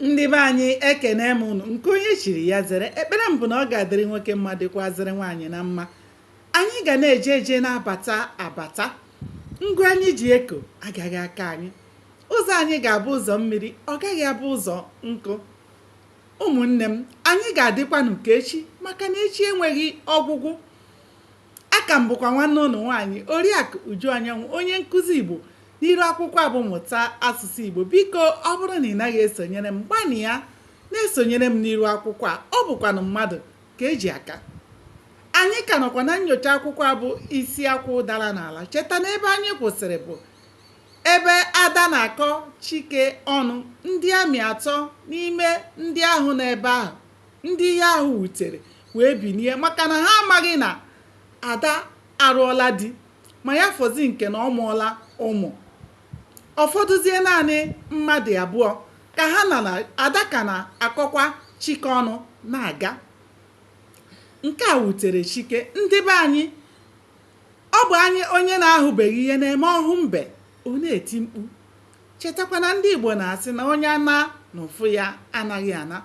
ndị be anyị ekene m ụnụ nke onye chiri ya zere ekpere m bụ na ọ ga-adịrị nwoke mma dịkwazịrị nwaanyị na mma anyị ga na-eje eje na-abata abata ngwa anyị ji eko agaghị aka anyị ụzọ anyị ga-abụ ụzọ mmiri ọ gaghị abụ ụzọ nkụ ụmụnne m anyị ga-adịkwanụ ka echi maka na echi enweghị ọgwụgwụ aka m bụkwa nwanne ụnụ nwaanyị oriakụ uju anyanwụ onye nkụzi igbo N'iru akwụkwọ a bụ Mụta Asụsụ Igbo, biko ọ bụrụ na ị naghị esonyere m, gbanịa na-esonyere m n'iru akwụkwọ a, ọ bụkwanụ mmadụ ka eji aka. Anyị ka nọkwa na nnyocha akwụkwọ a bụ Isi Akwụ Dara n'Ala. Cheta na ebe anyị kwụsịrị bụ ebe Ada na-akọ Chike ọnụ, ndị ami atọ n'ime ndị ahụ nọ ebe ahụ, ndị ihe ahụ wutere wee binie maka na ha amaghị na Ada alụọla di. ma ya fọzi nke na ọ mụọla ụmụ ọ fọdụzie naanị mmadụ abụọ ka ha na na ada ka na-akọkwa chike ọnụ na-aga nke a wutere chike ndị be anyị ọ bụ naanị onye na-ahụbeghị ihe na-eme ọ hụ mbe ọ na-eti mkpu chetakwa na ndị igbo na-asị na ọnya naa na ụfụ ya anaghị ana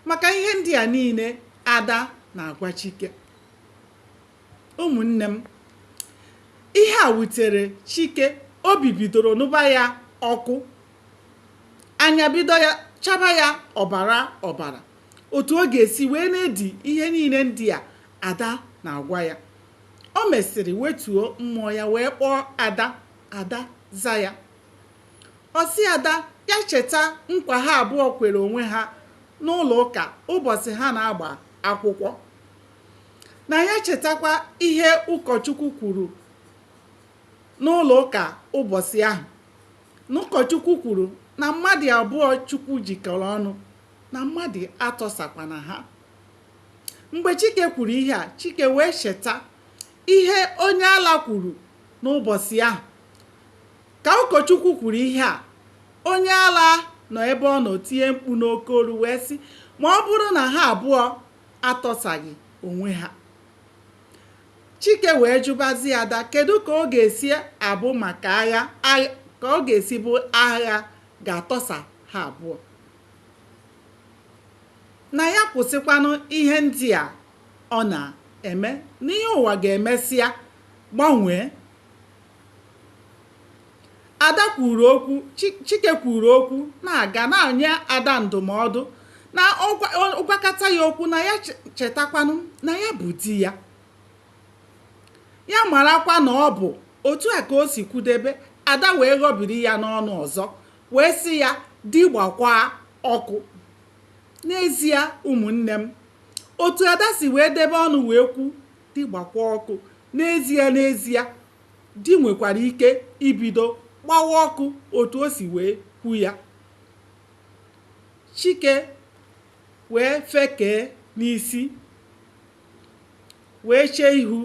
maka ihe ndị a niile ada na-agwa chike Ụmụnne m, ihe a wutere Chike. Obi bidoro nụba ya ọkụ. Anya bido ya chaba ya ọbara ọbara. Otu ọ ga-esi wee na-edi ihe niile ndị a Ada na-agwa ya. O mesịrị wetuo mmụọ ya wee kpọọ Ada. Ada za ya. Ọ sị Ada ya cheta nkwa ha abụọ kwere onwe ha n'ụlọ ụka ụbọsị ha na-agba akwụkwọ. na ya chetakwa ihe ụkọchukwu kwuru n'ụlọ ụka ụbọsị ahụ na ụkọchukwu kwuru na mmadụ abụọ chukwu jikọrọ ọnụ na mmadụ atọsakwana ha mgbe chike kwuru ihe a chike wee cheta ihe onye ala kwuru n'ụbọsị ahụ ka ụkọchukwu kwuru ihe a onye ala nọ ebe ọ nọ tie mkpu n'oke olu wee sị ma ọ bụrụ na ha abụọ atọsaghị onwe ha chike wee jụbazi ada kedu ka ọ ga-esi abụ maka agha ka ọ ga-esi bụ agha ga-atọsa ha abụọ na ya kwụsịkwanụ ihe ndị a ọ na-eme na ihe ụwa ga-emesịa gbanwee Ada kwuru okwu Chike kwuru okwu na-aga na-enye Ada ndụmọdụ na ọ gwakata ya okwu na ya chetakwanụ na ya bụ di ya ya marakwa na ọ bụ otu a ka o si kwudebe Ada wee ghọbiri ya n'ọnụ ọzọ wee sị ya di gbakwaa ọkụ n'ezie ụmụnne m otu Ada si wee debe ọnụ wee kwu di gbakwa ọkụ n'ezie n'ezie di nwekwara ike ibido gbawa ọkụ otu o si wee kwu ya chike wee fekee n'isi wee chee ihu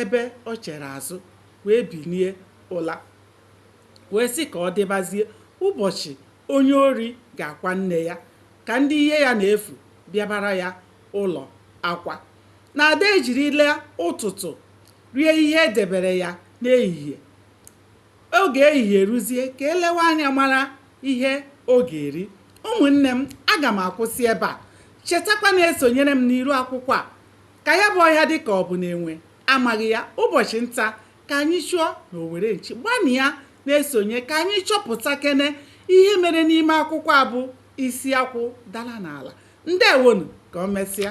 ebe o chere azụ wee binie ụla wee sị ka ọ dịbazie ụbọchị onye ori ga-akwa nne ya ka ndị ihe ya na-efu bịabara ya ụlọ akwa na Ada ejirila ụtụtụ rie ihe e debere ya n'ehihie. Oge ehihie ruzie ka e lewe anya mara ihe ọ ga-eri. Ụmụnne m, aga m akwụsị ebe a. Chetakwa na-esonyere m n'iru akwụkwọ a. Ka ya bụ ọhịa dị ka ọ bụ na enwe amaghị ya, ụbọchị nta ka anyị chụọ na owere nchi. Gbanịa na-esonye ka anyị chọpụtakene ihe mere n'ime akwụkwọ a bụ isi akwụ dara n'ala. Ndewonu ka o mesịa.